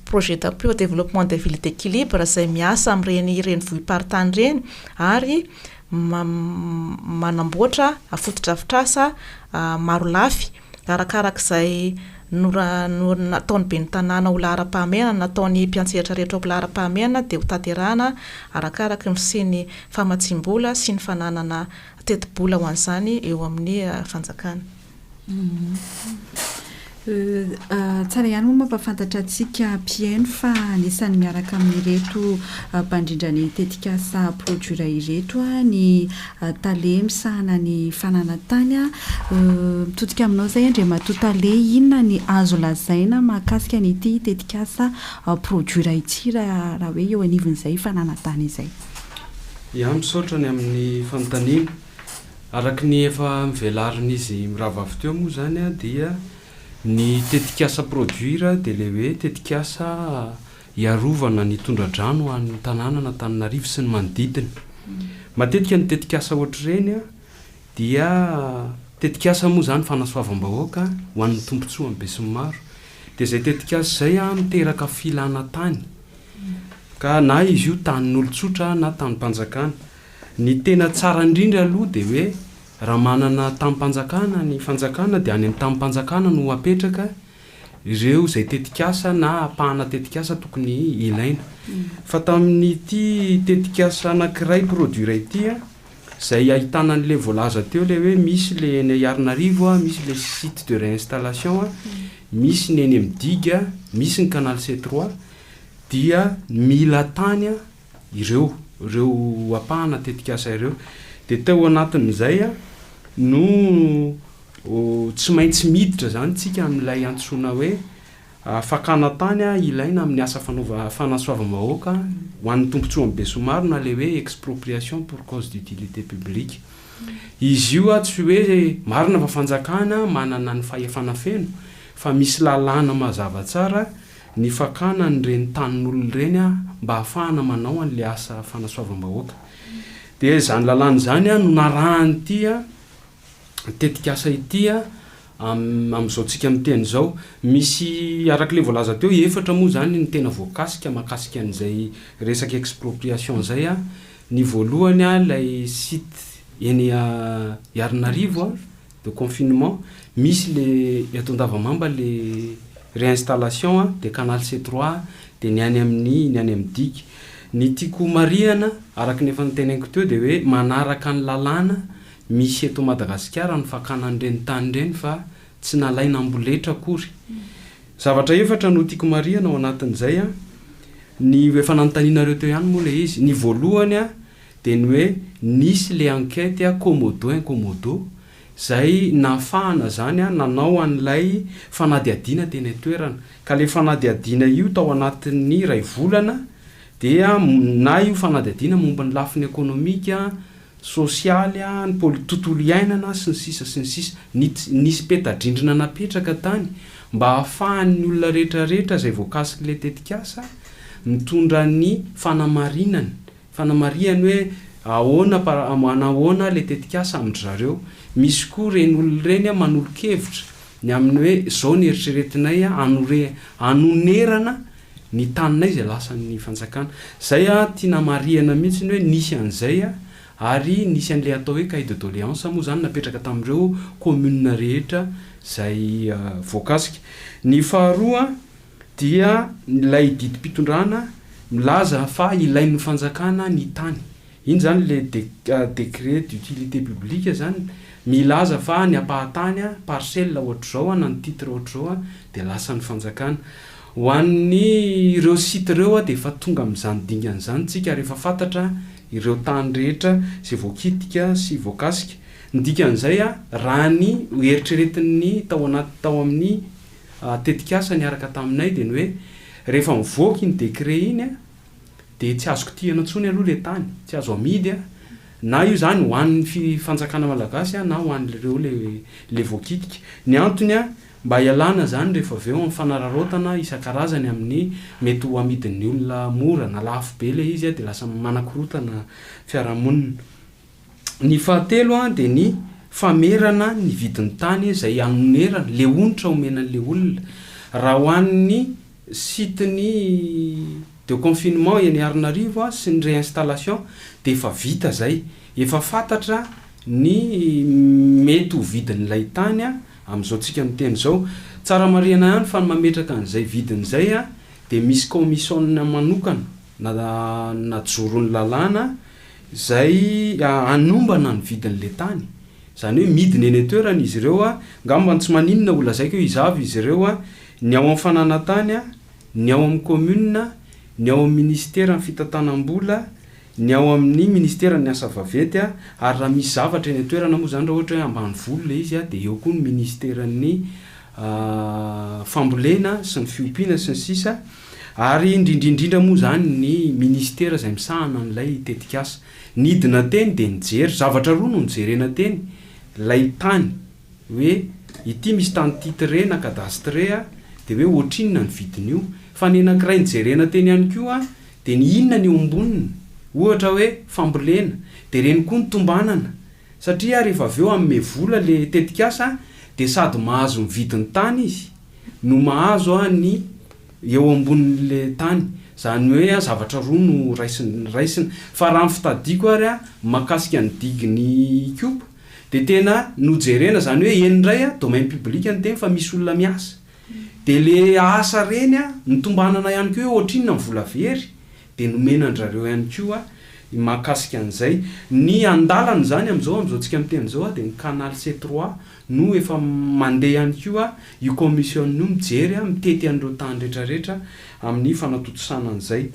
projet d'appui au développement des villes d'équilibre izay miasa amin'ireny renivohi-paritany ireny ary manamboatra fotodrafitrasa marolafy arakaraka izay nataon'ny ben'ny tanàna ho laharam-pahamehana, nataon'ny mpiantsehatra rehetra ho laharam-pahamehana dia ho tanterahana arakaraka ny fisian'ny famatsiam-bola sy ny fananana tetibola ho an'izany eo amin'ny fanjakana. Tsara ihany moa mampahafantatra antsika mpihaino fa anisan'ny miaraka amin'ireto mpandrindra ny tetikasa Produire ireto ny tale misahana ny fananantany. Mitodika aminao izay Andriamatoa Tale, inona ny azo lazaina mahakasika an'ity tetikasa Produire ity raha hoe eo anivon'izay fananantany izay? Ia, misaotra ny amin'ny fanontaniana. Araka ny efa novelarin'izy mirahavavy teo moa izany dia ny tetikasa Produire dia ilay hoe tetikasa hiarovana ny tondra-drano ho an'ny tanànan'Antananarivo sy ny manodidina. Matetika ny tetikasa ohatr'ireny dia tetikasa moa izany fanasoavam-bahoaka ho an'ny tombontsoan'ny besinimaro. Dia izay tetikasa izay miteraka filana tany ka na izy io tanin'olon-tsotra na tanim-panjakana. Ny tena tsara indrindra aloha dia hoe raha manana tamim-panjakana ny fanjakana dia any amin'ny tamim-panjakana no apetraka ireo izay tetikasa na apahana tetikasa tokony ilaina. Fa tamin'ity tetikasa anankiray produire ity an, izay ahitana an'ilay voalaza teo ilay hoe misy ilay eny Iarnarivo an, misy ilay site de réinstallation an, misy ny eny amin'ny digue an, misy ny canal C3 dia mila tany an, ireo ireo ampahana tetikasa ireo dia tao anatin'izay no tsy maintsy miditra izany tsika amin'ilay antsoina hoe fakana tany ilaina amin'ny asa fanaova fanasoavam-bahoaka ho an'ny tombontsoan'ny besomaro na le hoe expropriation pour cause d'utilité publique izy io a tsy hoe marina fa fanjakana manana ny fahefana feno fa misy lalàna mazava tsara ny fakana an'ireny tanin'olona ireny mba ahafahana manao an'ilay asa fanasoavam-bahoaka. Dia izany lalàna izany no narahan'ity tetikasa ity amin'izao antsika miteny izao. Misy, araka ilay voalaza teo, efatra moa izany no tena voakasika mahakasika an'izay resaka expropriation izay. Ny voalohany ilay site eny Iarnarivo. de confinement misy le eto Andavamamba le réinstallation a, de canal C trois a, de ny any amin'ny ny any amin'ny digue. Ny tiako ho marihana araka ny efa noteneniko teo de hoe manaraka ny lalàna misy eto Madagasikara ny fakana an'ireny tany ireny fa tsy nalaina amboletra akory. Zavatra efatra no tiako marihana ao anatin'izay a, ny efa nanontanianareo teo ihany moa le izy, ny voalohany a, dia ny hoe nisy le enquête a Komodo en Komodo izay nahafahana izany a nanao an'ilay fanadihadiana teny an-toerana. Ka le fanadihadiana io tao anatin'ny iray volana dia na io fanadihadiana momba ny lafiny ekonomika, sosialy a, ny poli- tontolo iainana sy ny sisa sy ny sisa. Nit- nisy peta-drindrina napetraka tany mba hahafahan'ny olona rehetrarehetra izay voakasik'ilay tetikasa mitondra ny fanamarinany Fanamarihany hoe ahoana par manahoana le tetikasa amin-dry zareo. Misy koa reny olona ireny manolo-kevitra ny amin'ny hoe zao ny eritreretinay hanore hanonerana ny taninay izay lasan'ny fanjakana. Zay an tiana marihana mihitsy ny hoe nisy an'izay ary nisy an'le atao hoe cahier de doleance moa zany napetraka tamin'ireo commune rehetra zay voakasika. Ny faharoa. dia ilay didim-pitondrana milaza fa ilain'ny fanjakana ny tany. Iny izany le décret d'utilité publique izany milaza fa ny ampahan-tany, parcelle ohatr'izao na ny titre ohatr'izao dia lasan'ny fanjakana. Ho an'ny ireo site ireo dia efa tonga amin'izany dingana izany tsika ary efa fantatra ireo tany rehetra izay voakitika sy voakasika. Ny dikan'izay raha ny eritreretin'ny tao anaty tao amin'ny tetikasa niaraka taminay dia ny hoe rehefa mivoaka iny décret iny dia tsy azo kitihana intsony aloha ilay tany, tsy azo amidy na io izany ho an'ny fi fanjakana malagasy na ho an'ireo ilay ilay voakitika. Ny antony mba hialana izany rehefa avy eo amin'ny fanararaotana isan-karazany amin'ny mety ho amidin'ny olona mora na lafo be ilay izy dia lasa manakorontana fiarahamonina. Ny fahatelo dia ny famerana ny vidin'ny tany izay anonerana, le onitra omena an'le olona. Raha ho an'ny site ny de confinement eny Arinarivo sy ny réinstallation dia efa vita izay, efa fantatra ny mety ho vidin'ilay tany amin'izao tsika miteny izao. Tsara marihana ihany fa ny mametraka an'izay vidiny izay dia misy kaomisôna manokana. Nanajoro ny lalàna izay hanombana ny vidin'ilay tany. Izany hoe midina eny an-toerana izy ireo. Angamba ny tsy maninona ho lazaiko hoe iza avy izy ireo, ny ao amin'ny fananantany, ny ao amin'ny kaominina, ny ao amin'ny minisiteran'ny fitantanam-bola, ny ao amin'ny minisiteran'ny asa vaventy ary raha misy zavatra eny an-toerana moa izany raha ohatra hoe ambanivolo ilay izy dia eo koa ny minisiteran'ny fambolena sy ny fiompiana sy ny sisa. ary indrindrindrindra moa izany ny minisitera izay misahana an'ilay tetikasa. Nidina teny dia nijery, zavatra roa no nojerena teny, ilay tany hoe ity misy tany titré na cadastre dia hoe ohatrinona ny vidin'io, fa ny anankiray nijerena teny ihany koa dia ny inona ny eo amboniny, ohatra hoe fambolena, dia ireny koa no tombanana, satria rehefa avy eo hanome vola ilay tetikasa dia sady mahazo mividy ny tany izy, no mahazo ny eo ambonin'le tany. Zany hoe zavatra roa no raisina. Fa raha ny fitadiako ary mahakasika ny digin'i Ikopa dia tena nojerena zany hoe eny indray domaine public ny teny fa misy olona miasa. Dia le asa reny nitombanana ihany koa hoe ohatrinona ny vola very dia nomena andrareo ihany koa ny mahakasika an'izay. Ny andalana izany amin'izao amin'izao tsika miteny izao dia ny canal C3 no efa mandeha ihany koa io commission io mijery, mitety an'ireo tany retraretra amin'ny fanatontosana an'izay.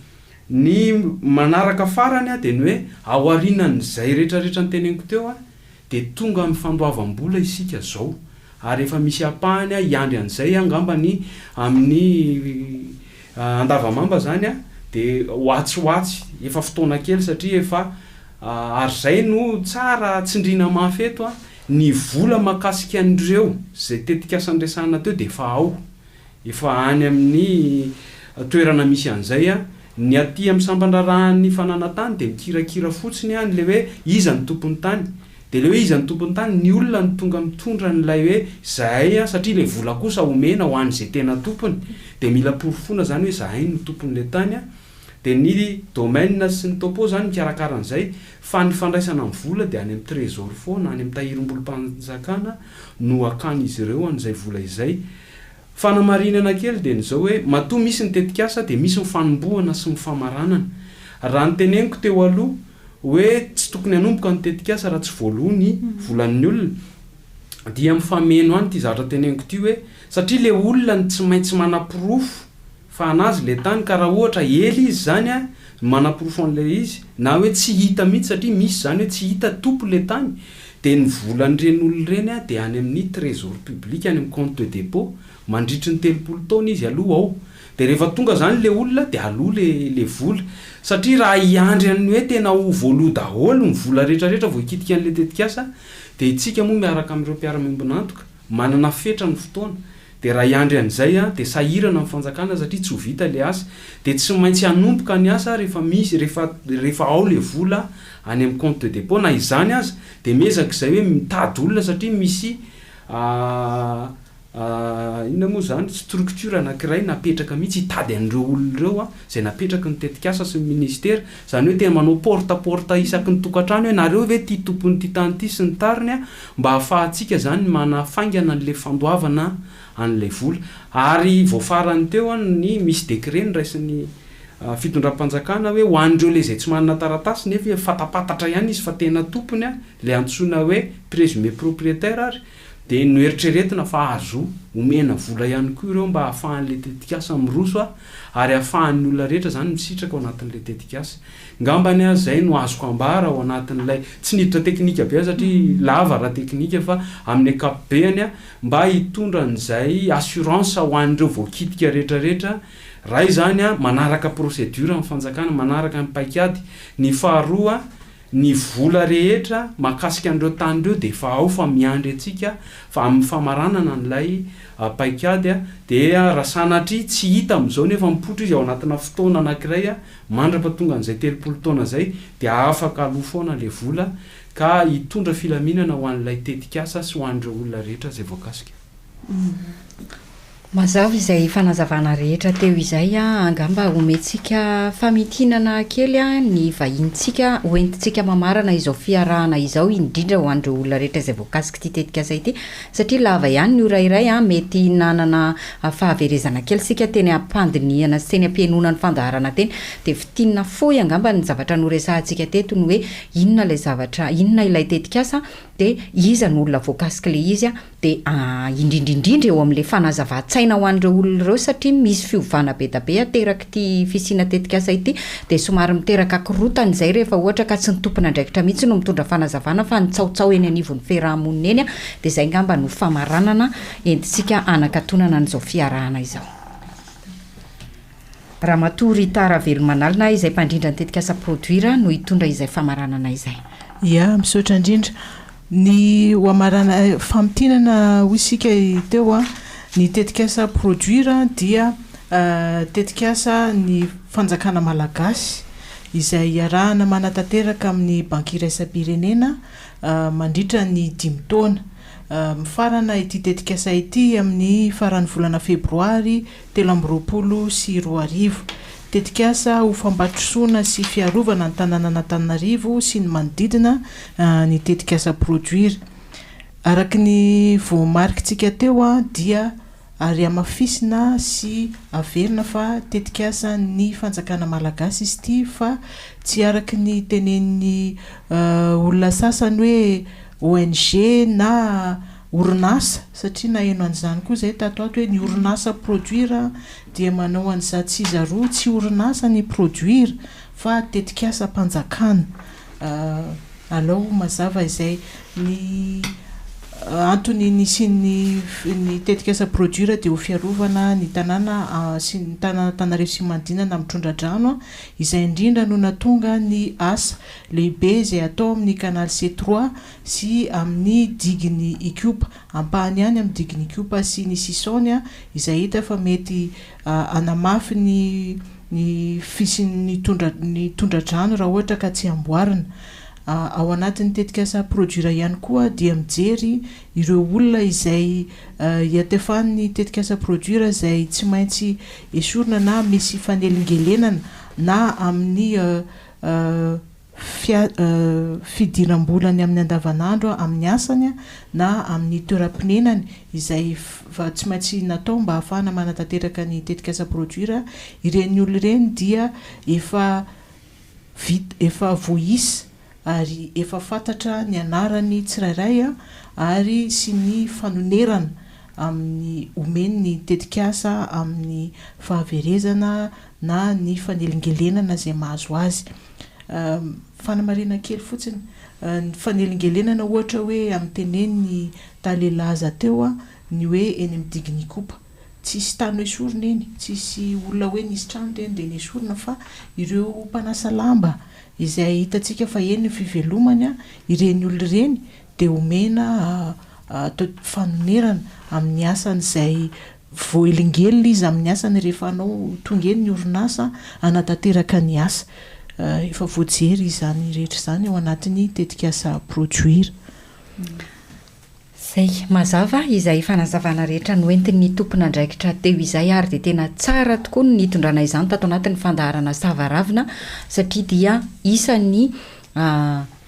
Ny manaraka farany dia ny hoe ao aorianan'izay retraretra noteneniko teo dia tonga amin'ny fandoavam-bola isika izao ary efa misy ampahany hiandry an'izay angamba ny amin'ny Andavamamba izany dia ho atsy ho atsy, efa fotoana kely satria efa ary izay no tsara tsindriana mafy eto Ny vola mahakasika an'ireo izay tetikasa niresahana teo dia efa ao, efa any amin'ny toerana misy an'izay. Ny aty amin'ny sampan-draharahan'ny fananantany dia mikirakira fotsiny any ilay hoe iza ny tompon'ny tany. Dia ilay hoe iza ny tompon'ny tany, ny olona no tonga mitondra an'ilay hoe izahay satria ilay vola kosa omena ho an'izay tena tompony. Dia mila porofoina izany hoe izahay no tompon'ilay tany. Dia ny domaine sy ny topo izany mikarakara an'izay fa ny fandraisana ny vola dia any amin'ny trésor foana, any amin'ny tahirim-bolom-panjakana no akan'izy ireo an'izay vola izay. Fanamarinana kely dia ny izao hoe matoa misy ny tetikasa dia misy ny fanombohana sy ny famaranana. Raha ny teneniko teo aloha hoe tsy tokony hanomboka ny tetikasa raha tsy voaloa ny volan'ny olona dia mifameno any ity zavatra teneniko ity hoe satria ilay olona no tsy maintsy manaporofo Fa anazy le tany ka raha ohatra ela izy zany a no manaporofo anle izy na hoe tsy hita mihitsy satria misy zany hoe tsy hita topo le tany de ny volan'ireny olona ireny a de any amin'ny trésor public any amin'ny compte de dépôt mandritry ny telopolo taona izy aloha ao de rehefa tonga zany le olona de aloa le le vola satria raha hiandry an'ny hoe tena ho voaloa daholo ny vola retraretra vao hikitika an'le tetikasa de itsika moa miaraka amin'ireo mpiara-miombon'antoka Manana fetra ny fotoana, dia raha hiandry an'izay aho dia sahirana ny fanjakana satria tsy ho vita ilay asa, dia tsy maintsy hanomboka ny asa aho rehefa misy, rehefa, rehefa ao ilay vola any amin'ny compte de dépôt, na izany aza dia miezaka izay hoe mitady olona satria misy inona moa izany, structure anankiray napetraka mihitsy hitady an'ireo olona ireo izay napetraky ny tetikasa sy ny ministera, Izany hoe tena manao porte porte isaky ny tokantrano hoe nareo ve tia tompon'ity tany ity sy ny tariny a, mba ahafahantsika izany ny manafaingana an'ilay fandoavana an'ilay vola. Ary vao farany teo an, ny misy décret noraisin'ny fitondram-panjakana hoe ho an'ireo ilay izay tsy manana taratasy nefa fantapantatra ihany izy fa tena tompony a, ilay antsoina hoe présumé propriétaire ary, Dia noeritreretina fa azo omena vola ihany koa ireo mba hahafahan'ilay tetikasa miroso ary hahafahan'ny olona rehetra izany misitraka ao anatin'ilay tetikasa. Ngambany aza izay no azoko ambara ao anatin'ilay, tsy niditra teknika be aho satria lava raha teknika, fa amin'ny ankapobeany, mba hitondra an'izay assurance ho an'ireo voakitika rehetrarehetra, raha izany manaraka procédure ny fanjakana, manaraka ny paikady. Ny faharoa. Ny vola rehetra mahakasika an'ireo tany ireo dia efa ao fa miandry antsika fa amin'ny famaranana an'ilay paikady dia raha sanatria tsy hita amin'izao nefa mipoitra izy ao anatina fotoana anankiray mandrapatonga an'izay telopolo taona izay dia afaka aloa foana ilay vola ka hitondra filaminana ho an'ilay tetikasa sy ho an'ireo olona rehetra izay voakasika. Mazava izay fanazavana rehetra teo izay, angamba omentsika famintinana kely ny vahinintsika hoentintsika mamarana izao fiarahana izao indrindra ho an'ireo olona rehetra izay voakasik'ity tetikasa ity satria lava ihany ny ora iray, mety nanana fahaverezana kely isika teny am-pandinihana sy teny am-pihenoana ny fandaharana teny dia fintinina fohy angamba ny zavatra noresahantsika teto ny hoe inona ilay zavatra, inona ilay tetikasa dia iza no olona voakasik'ilay izy. dia indrindra indrindra eo amin'ilay fanazavan-tsaina ho an'ireo olona ireo satria misy fiovana be dia be aterak'ity fisiana tetikasa ity dia somary miteraka korotana izay rehefa ohatra ka tsy ny tompon'andraikitra mihitsy no mitondra fanazavana fa ny tsaotsaho eny anivon'ny fiaraha-monina eny dia izay ngamba no famaranana entintsika hanakatonana an'izao fiarahana izao. Ramatoa Rita Ravelomanalina izay mpandrindra ny tetikasa Produire no hitondra izay famaranana izay. Ia, misaotra indrindra. Ny ho amarana, famintinana hoy isika teo an, ny tetikasa Produire dia tetikasa ny fanjakana malagasy izay iarahana manatanteraka amin'ny Banky iraisam-pirenena mandritra ny dimy taona. Mifarana ity tetikasa ity amin'ny faran'ny volana febroary telo amby roapolo sy roa arivo. Tetikasa ho fampandrosoana sy fiarovana ny tanànan'Antananarivo sy ny manodidina ny tetikasa Produire. Araka ny voamarikintsika teo dia arihamafisina sy averina fa tetikasan'ny fanjakana malagasy izy ity fa tsy araka ny tenenin'ny olona sasany hoe ONG na orinasa satria naheno an'izany koa izay tato ato hoe ny orinasa produire dia manao an'iza tsy iza roa tsy orinasa ny produire fa tetikasam-panjakana alao mazava izay ny antony nisian'ny ny tetikasa produire dia ho fiarovana ny tanàna sy ny tanàn'Antananarivo sy manodinana amin'ny tondra-drano izay indrindra no nahatonga ny asa lehibe izay atao amin'ny canal C trois sy amin'ny digin'ny Ikopa, ampahany ihany amin'ny digin'ny Ikopa sy ny sisaony, izay hita fa mety hanamafy ny ny fisian'ny tondra ny tondra-drano raha ohatra ka tsy amboarina. Ao anatin'ny tetikasa Produira ihany koa dia mijery ireo olona izay iatefan'ny tetikasa Produira izay tsy maintsy esorina na misy fanelingelenana na amin'ny fia, fidiram-bolany amin'ny andavanandro amin'ny asany na amin'ny toeram-ponenany, izay fa tsy maintsy natao mba hahafahana manatanteraka ny tetikasa Produire, ireny olona ireny dia efa vit, efa voaisa ary efa fantatra ny anarany tsirairay ary sy ny fanonerana amin'ny omeny ny tetikasa amin'ny fahaverezana na ny fanelingelenana izay mahazo azy. Fanamariana kely fotsiny, ny fanelingelenana ohatra hoe amin'ny tenenin'i Tale Laza teo ny hoe eny amin'ny digin'Ikopa. Tsisy tany noesorina eny, tsisy olona hoe nisy trano teny dia nesorina fa ireo mpanasa lamba izay hitantsika fa eny ny fivelomany, ireny olona ireny dia omena fanonerana amin'ny asany izay Voaelingelina izy amin'ny asany rehefa hanao tonga eny ny orinasa hanatanteraka ny asa. Efa voajery izany rehetra izany ao anatin'ny tetikasa Produire. Izay. Mazava izay fanazavana rehetra noentin'ny tompon'andraikitra teo izay ary dia tena tsara tokoa ny nitondrana izany tato anatin'ny fandaharana Sava ravina satria dia isan'ny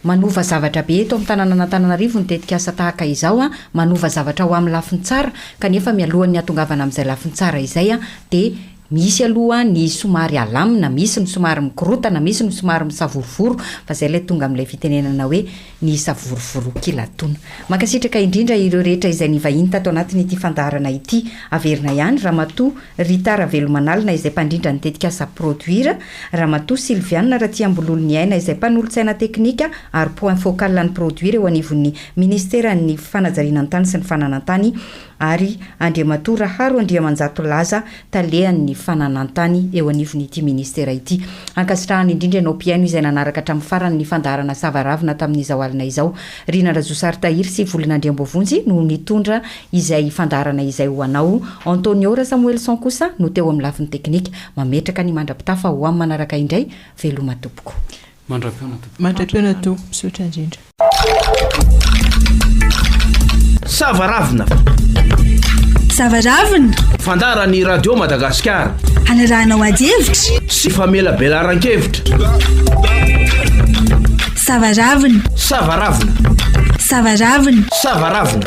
Manova zavatra be eto amin'ny tanànan'Antananarivo ny tetikasa tahaka izao, manova zavatra ho amin'ny lafiny tsara, kanefa mialohan'ny hatongavana amin'izay lafiny tsara izay dia misy aloha ny somary alamina, misy ny somary mikorotana, misy ny somary misavorovoro, fa izay ilay tonga amin'ilay fitenenana hoe ny savorovorokilatona. Mankasitraka indrindra ireo rehetra izay nivahiny tato anatin'ity fandaharana ity. Averina ihany Ramatoa Rita Ravelomanalina izay mpandrindra ny tetikasa Produire, Ramatoa Sylviane Ratiambololoniaina izay mpanolotsaina teknika ary point focal ny produire eo anivon'ny Minisiteran'ny Fanajarianan-tany sy ny Fananantany ary Andriamatoa Raharo Andriamanjato Laza, Talehan'ny Fananantany eo anivon'ity Minisitera ity. Ankasitrahana indrindra ianao mpihaino izay nanaraka hatramin'ny farany ny fandaharana Savaravina tamin'izao alina izao. Rina Razosary Tahiry sy Volina Andriamboavonjy no nitondra izay fandaharana izay ho anao. Antonio Rasamoelison kosa no teo amin'ny lafiny teknika. Mametraka ny mandra-pitafa ho am manaraka indray veloma tompoko. Mandra-peona tompoko. Mandra-peona toa. Misaotra indrindra. Sava ravina. Sava ravina. Fandara ny radio Madagascar. Hanarahanao ady hevitra. Sy famelabelaran-kevitra. Sava ravina. Sava ravina. Sava ravina. Sava ravina.